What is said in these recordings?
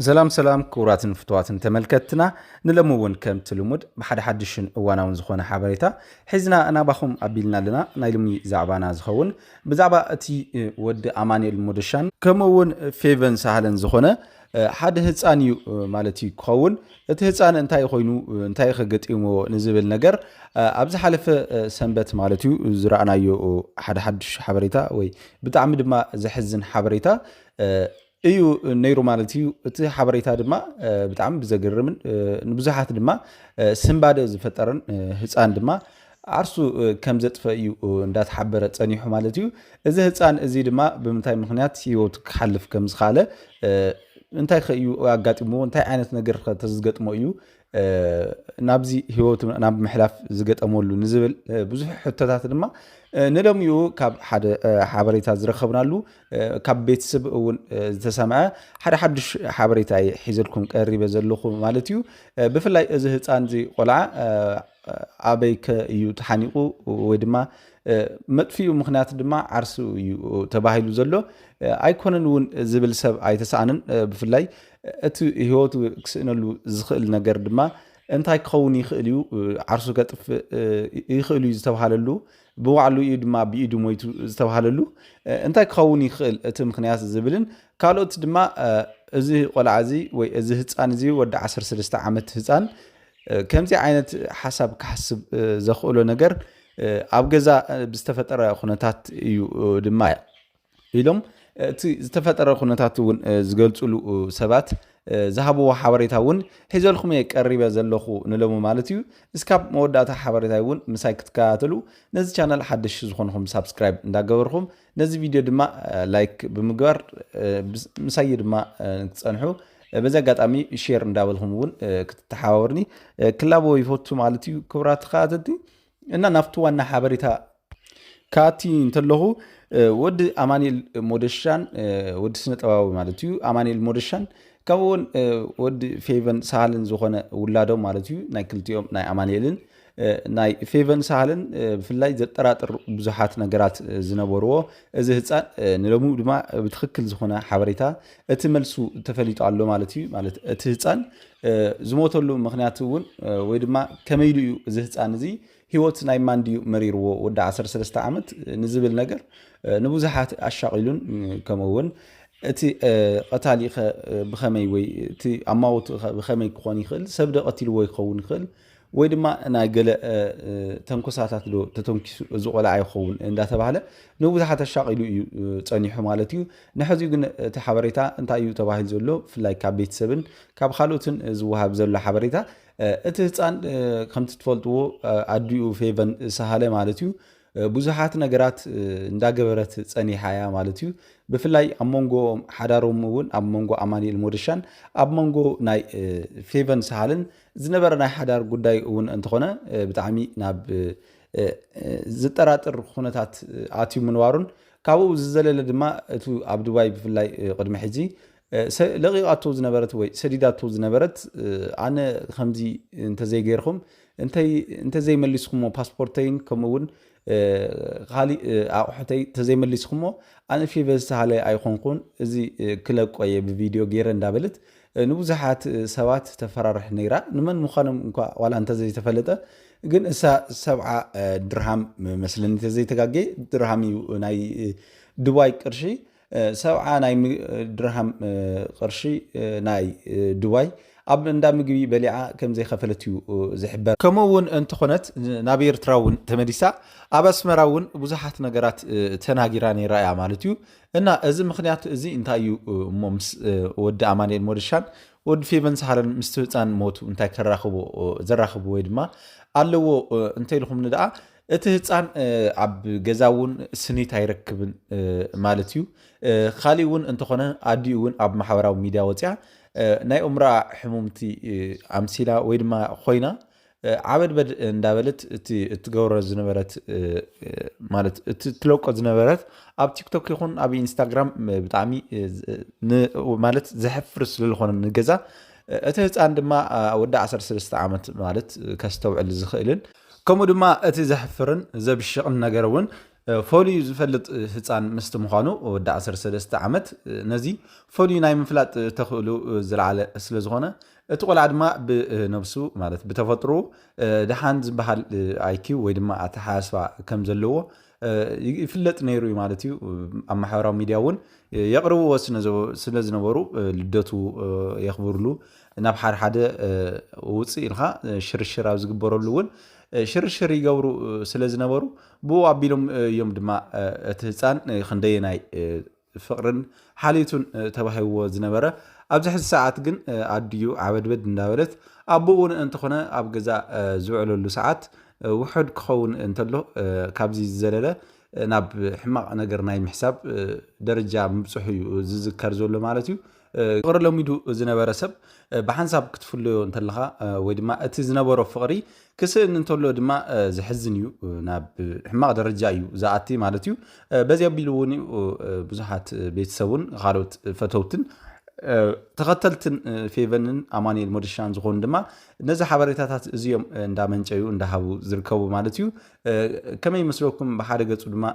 ሰላም ሰላም ክቡራትን ፍትዋትን ተመልከትና ንለሚ እውን ከምቲ ልሙድ ብሓደ ሓድሽን እዋናውን ዝኾነ ሓበሬታ ሒዝና እናባኹም ኣቢልና ኣለና ናይ ልሚ ዛዕባና ዝኸውን ብዛዕባ እቲ ወዲ ኣማንኤል ሞደሻን ከምኡ እውን ፌቨን ሳህለን ዝኾነ ሓደ ህፃን እዩ ማለት እዩ ክኸውን እቲ ህፃን እንታይ ኮይኑ እንታይ ከገጢምዎ ንዝብል ነገር ኣብ ዝሓለፈ ሰንበት ማለት እዩ ዝረኣናዮ ሓደ ሓዱሽ ሓበሬታ ወይ ብጣዕሚ ድማ ዘሕዝን ሓበሬታ እዩ ነይሩ ማለት እዩ። እቲ ሓበሬታ ድማ ብጣዕሚ ብዘገርምን ንብዙሓት ድማ ስንባደ ዝፈጠረን ህፃን ድማ ዓርሱ ከም ዘጥፈ እዩ እንዳተሓበረ ፀኒሑ ማለት እዩ። እዚ ህፃን እዚ ድማ ብምንታይ ምክንያት ህይወቱ ክሓልፍ ከም ዝኸኣለ እንታይ ከ እዩ ኣጋጢምዎ እንታይ ዓይነት ነገር ከ ተዝገጥሞ እዩ ናብዚ ህይወቱ ናብ ምሕላፍ ዝገጠመሉ ንዝብል ብዙሕ ሕቶታት ድማ ንሎሚኡ ካብ ሓደ ሓበሬታ ዝረከብናሉ ካብ ቤተሰብ እውን ዝተሰምዐ ሓደ ሓዱሽ ሓበሬታ እየ ሒዘልኩም ቀሪበ ዘለኹ ማለት እዩ ብፍላይ እዚ ህፃን እዚ ቆልዓ ኣበይ ከ እዩ ተሓኒቑ ወይ ድማ መጥፍኡ ምክንያት ድማ ዓርሱ እዩ ተባሂሉ ዘሎ ኣይኮነን እውን ዝብል ሰብ ኣይተሰኣንን ብፍላይ እቲ ህይወቱ ክስእነሉ ዝኽእል ነገር ድማ እንታይ ክኸውን ይኽእል እዩ ዓርሱ ከጥፍእ ይኽእል እዩ ዝተብሃለሉ ብባዕሉ እዩ ድማ ብኢዱ ሞይቱ ዝተብሃለሉ እንታይ ክኸውን ይኽእል እቲ ምክንያት ዝብልን ካልኦት ድማ እዚ ቆልዓ እዚ ወይ እዚ ህፃን እዚ ወዲ 13 ዓመት ህፃን ከምዚ ዓይነት ሓሳብ ክሓስብ ዘኽእሎ ነገር ኣብ ገዛ ብዝተፈጠረ ኩነታት እዩ ድማ ኢሎም እቲ ዝተፈጠረ ኩነታት እውን ዝገልፅሉ ሰባት ዝሃብዎ ሓበሬታ እውን ሒዘልኩም እየ ቀሪበ ዘለኹ ንለሙ ማለት እዩ እስካብ መወዳእታ ሓበሬታ እውን ምሳይ ክትከታተሉ ነዚ ቻነል ሓደሽ ዝኾንኹም ሳብስክራይብ እንዳገበርኹም ነዚ ቪድዮ ድማ ላይክ ብምግባር ምሳይ ድማ ክትፀንሑ በዚ ኣጋጣሚ ሼር እንዳበልኩም እውን ክትተሓባበርኒ ክላቦ ይፈቱ ማለት እዩ ክብራት ተኸታተልቲ እና ናብቲ ዋና ሓበሬታ ካቲ እንተለኹ ወዲ ኣማኒኤል ሞደሻን ወዲ ስነ ጥበባዊ ማለት እዩ ኣማኒኤል ሞደሻን ከምኡ እውን ወዲ ፌቨን ሳሃልን ዝኾነ ውላዶም ማለት እዩ ናይ ክልቲኦም ናይ ኣማኒኤልን ናይ ፌቨን ሳሃልን ብፍላይ ዘጠራጥር ብዙሓት ነገራት ዝነበርዎ እዚ ህፃን ንሎሚ ድማ ብትክክል ዝኾነ ሓበሬታ እቲ መልሱ ተፈሊጡ ኣሎ ማለት እዩ ማለት እቲ ህፃን ዝሞተሉ ምክንያት እውን ወይ ድማ ከመይ ኢሉ እዩ እዚ ህፃን እዚ ሂወት ናይ ማን ድዩ መሪርዎ ወዲ 13 ዓመት ንዝብል ነገር ንብዙሓት ኣሻቂሉን ከምኡ እውን እቲ ቀታሊ ብከመይ ወይ እቲ ኣማውቲ ብከመይ ክኾን ይኽእል ሰብ ዶ ቀቲልዎ ይኸውን ይኽእል ወይ ድማ ናይ ገለ ተንኮሳታት ዶ ተተንኪሱ እዚ ቆልዓ ይኸውን እንዳተባህለ ንብዙሓት ኣሻቒሉ እዩ ጸኒሑ ማለት እዩ። ንሕዚ ግን እቲ ሓበሬታ እንታይ እዩ ተባሂሉ ዘሎ ብፍላይ ካብ ቤተሰብን ካብ ካልኦትን ዝወሃብ ዘሎ ሓበሬታ እቲ ህፃን ከምቲ ትፈልጥዎ ኣዲኡ ፌቨን ሰሃለ ማለት እዩ ብዙሓት ነገራት እንዳገበረት ጸኒሓ እያ ማለት እዩ። ብፍላይ ኣብ መንጎ ሓዳሮም እውን ኣብ መንጎ ኣማኒኤል ሞደሻን ኣብ መንጎ ናይ ፌቨን ሳሃልን ዝነበረ ናይ ሓዳር ጉዳይ እውን እንተኾነ ብጣዕሚ ናብ ዝጠራጥር ኩነታት ኣትዩ ምንባሩን ካብኡ ዝዘለለ ድማ እቲ ኣብ ዱባይ ብፍላይ ቅድሚ ሕጂ ለቒቓቶ ዝነበረት ወይ ሰዲዳቶ ዝነበረት ኣነ ከምዚ እንተዘይ ገይርኩም እንተዘይ መሊስኩሞ ፓስፖርተይን ከምኡ እውን ካሊእ ኣቑሑተይ እንተዘይ መሊስኩሞ ኣነ ፌቨ ዝተሃለ ኣይኮንኩን እዚ ክለቆ እየ ብቪድዮ ገይረ እንዳበለት ንብዙሓት ሰባት ተፈራርሕ ነይራ ንመን ምዃኖም እኳ ዋላ እንተዘይተፈለጠ ግን እሳ ሰብዓ ድርሃም መስለኒ ተዘይተጋጌ ድርሃም እዩ ናይ ድባይ ቅርሺ ሰብዓ ናይ ድርሃም ቅርሺ ናይ ዱባይ ኣብ እንዳ ምግቢ በሊዓ ከምዘይኸፈለት እዩ ዝሕበር። ከምኡ እውን እንተኾነት ናብ ኤርትራ እውን ተመሊሳ ኣብ ኣስመራ እውን ብዙሓት ነገራት ተናጊራ ነይራ እያ ማለት እዩ። እና እዚ ምክንያት እዚ እንታይ እዩ እሞ ምስ ወዲ ኣማንኤል ሞደሻን ወዲ ፌቨን ሳሃለን ምስቲ ህፃን ሞቱ እንታይ ከራኽቦ ዘራኽቡ ወይ ድማ ኣለዎ እንተኢልኹምኒ ደኣ እቲ ህፃን ኣብ ገዛ እውን ስኒት ኣይረክብን ማለት እዩ። ካሊእ እውን እንተኾነ ኣዲኡ እውን ኣብ ማሕበራዊ ሚድያ ወፅያ ናይ እምሮኣ ሕሙምቲ ኣምሲላ ወይ ድማ ኮይና ዓበድበድ እንዳበለት እቲ እትገብሮ ዝነበረት ማለት እቲ እትለቆ ዝነበረት ኣብ ቲክቶክ ይኹን ኣብ ኢንስታግራም ብጣዕሚ ማለት ዘሕፍር ስለዝኾነ ንገዛ እቲ ህፃን ድማ ወዲ 13 ዓመት ማለት ከስተውዕል ዝኽእልን ከምኡ ድማ እቲ ዘሕፍርን ዘብሽቕን ነገር እውን ፈልዩ ዝፈልጥ ህፃን ምስቲ ምዃኑ ወዲ 13 ዓመት ነዚ ፈልዩ ናይ ምፍላጥ ተኽእሉ ዝለዓለ ስለ ዝኾነ እቲ ቆልዓ ድማ ብነብሱ ማለት ብተፈጥሮ ድሓን ዝበሃል ኣይኪው ወይ ድማ ኣተሓሳስባ ከም ዘለዎ ይፍለጥ ነይሩ እዩ ማለት እዩ ኣብ ማሕበራዊ ሚዲያ እውን የቕርብዎ ስለ ዝነበሩ ልደቱ የኽብርሉ ናብ ሓደ ሓደ ውፅእ ኢልኻ ሽርሽር ኣብ ዝግበረሉ እውን ሽርሽር ይገብሩ ስለ ዝነበሩ ብኡ ኣቢሎም እዮም ድማ እቲ ህፃን ክንደየናይ ፍቕርን ሓልዩቱን ተባሂብዎ ዝነበረ ኣብዚ ሕዚ ሰዓት ግን ኣድዩ ዓበድበድ እንዳበለት ኣቦ እውን እንተኾነ ኣብ ገዛ ዝውዕለሉ ሰዓት ውሑድ ክኸውን እንተሎ ካብዚ ዝዘለለ ናብ ሕማቕ ነገር ናይ ምሕሳብ ደረጃ ምብፅሑ እዩ ዝዝከር ዘሎ ማለት እዩ ፍቕሪ ለሚዱ ዝነበረ ሰብ ብሓንሳብ ክትፍለዮ እንተለኻ ወይ ድማ እቲ ዝነበሮ ፍቕሪ ክስእን እንተሎ ድማ ዘሕዝን እዩ ናብ ሕማቕ ደረጃ እዩ ዝኣቲ ማለት እዩ በዚ ኣቢሉ እውን እዩ ብዙሓት ቤተሰቡን ካልኦት ፈተውትን ተኸተልትን ፌቨንን ኣማኒኤል ሞደሻን ዝኾኑ ድማ ነዚ ሓበሬታታት እዚኦም እንዳመንጨዩ እንዳሃቡ ዝርከቡ ማለት እዩ ከመይ ይመስለኩም ብሓደ ገፁ ድማ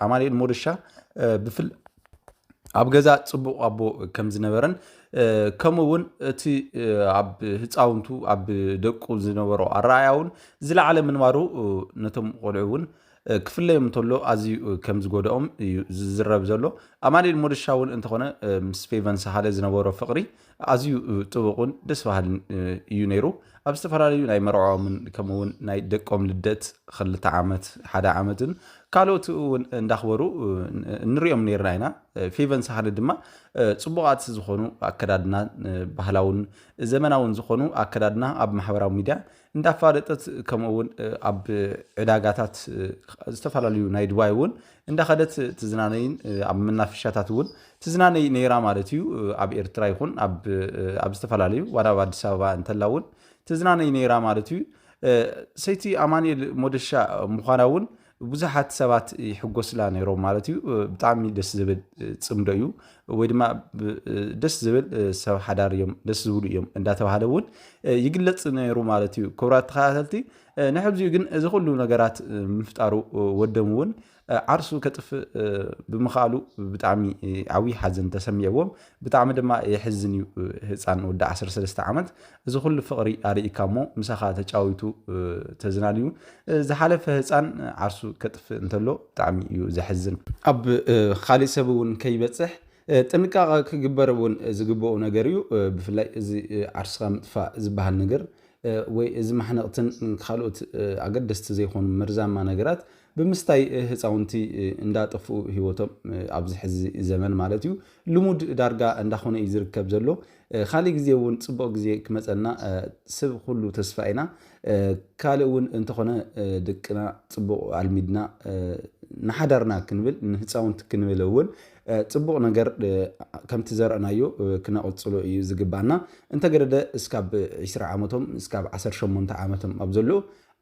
ኣማኒኤል ሞደሻ ኣብ ገዛ ፅቡቕ ኣቦ ከም ዝነበረን ከምኡ እውን እቲ ኣብ ህፃውንቱ ኣብ ደቁ ዝነበሮ ኣረኣያ እውን ዝለዓለ ምንባሩ ነቶም ቆልዑ እውን ክፍለዮም እንተሎ ኣዝዩ ከም ዝጎድኦም እዩ ዝዝረብ ዘሎ ኣማኒኤል ሞደሻ እውን እንተኾነ ምስ ፌቨን ሳሃለ ዝነበሮ ፍቕሪ ኣዝዩ ጥቡቕን ደስ በሃልን እዩ ነይሩ። ኣብ ዝተፈላለዩ ናይ መርዖኦምን ከምኡ እውን ናይ ደቆም ልደት ክልተ ዓመት ሓደ ዓመትን ካልኦት እውን እንዳኽበሩ ንሪኦም ነርና ኢና። ፌቨን ሳህለ ድማ ፅቡቓት ዝኾኑ ኣከዳድና ባህላውን ዘመናውን ዝኾኑ ኣከዳድና ኣብ ማሕበራዊ ሚዲያ እንዳፋለጠት ከምኡ እውን ኣብ ዕዳጋታት ዝተፈላለዩ ናይ ድባይ እውን እንዳኸደት ትዝናነይን ኣብ መናፈሻታት እውን ትዝናነይ ነይራ ማለት እዩ ኣብ ኤርትራ ይኹን ኣብ ዝተፈላለዩ ዋላ ኣብ ኣዲስ ኣበባ እንተላ እውን ትዝናነይ ነይራ ማለት እዩ ሰይቲ ኣማኒኤል ሞደሻ ምዃና እውን ብዙሓት ሰባት ይሕጎስላ ነይሮም ማለት እዩ። ብጣዕሚ ደስ ዝብል ፅምዶ እዩ ወይ ድማ ደስ ዝብል ሰብ ሓዳር እዮም ደስ ዝብሉ እዮም እንዳተባሃለ እውን ይግለፅ ነይሩ ማለት እዩ። ክቡራት ተኸታተልቲ ንሕብዚኡ ግን እዚ ኩሉ ነገራት ምፍጣሩ ወደም እውን ዓርሱ ከጥፍእ ብምኽኣሉ ብጣዕሚ ዓብዪ ሓዘን ተሰሚዕዎም ብጣዕሚ ድማ የሕዝን እዩ ህጻን ወዲ ዓሰርተ ሰለስተ ዓመት እዚ ኩሉ ፍቅሪ ኣርኢካ እሞ ምሳኻ ተጫዊቱ ተዝናንዩ ዝሓለፈ ህጻን ዓርሱ ከጥፍእ እንተሎ ብጣዕሚ እዩ ዘሕዝን ኣብ ኻሊእ ሰብ እውን ከይበጽሕ ጥንቃቀ ክግበር እውን ዝግበኡ ነገር እዩ ብፍላይ እዚ ዓርስኻ ምጥፋእ ዝበሃል ነገር ወይ እዚ ማሕነቅትን ካልኦት ኣገደስቲ ዘይኮኑ መርዛማ ነገራት ብምስታይ ህፃውንቲ እንዳጠፍኡ ሂወቶም ኣብዚ ሕዚ ዘመን ማለት እዩ ልሙድ ዳርጋ እንዳኾነ እዩ ዝርከብ ዘሎ ኻሊእ ግዜ እውን ፅቡቅ ግዜ ክመፀና ስብ ኹሉ ተስፋ ኢና ካልእ እውን እንተኾነ ድቅና ፅቡቅ ኣልሚድና ንሓዳርና ክንብል ንህፃውንቲ ክንብል እውን ፅቡቅ ነገር ከምቲ ዘረእናዮ ክነቅፅሎ እዩ ዝግባና እንተገደደ እስካብ ዒስራ ዓመቶም እስካብ ዓሰርተ ሸሞንተ ዓመቶም ኣብ ዘሎ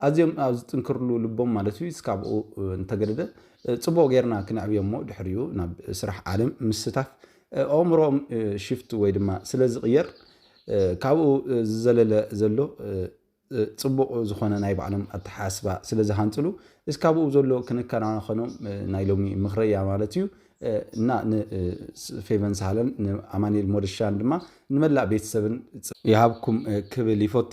ኣዝዮም ኣብ ዝጥንክርሉ ልቦም ማለት እዩ እስካብኡ እንተገደደ ፅቡቕ ጌርና ክነዕብዮ እሞ ድሕሪኡ ናብ ስራሕ ዓለም ምስታፍ ኣእምሮኦም ሽፍት ወይ ድማ ስለ ዝቕየር ካብኡ ዝዘለለ ዘሎ ፅቡቕ ዝኾነ ናይ ባዕሎም ኣተሓሳስባ ስለ ዝሃንፅሉ እስካብኡ ዘሎ ክንከናኸኖም ናይ ሎሚ ምኽረያ ማለት እዩ እና ንፌቨን ሳህለን ንኣማኒኤል ሞደሻን ድማ ንመላእ ቤተሰብን ይሃብኩም ክብል ይፎቲ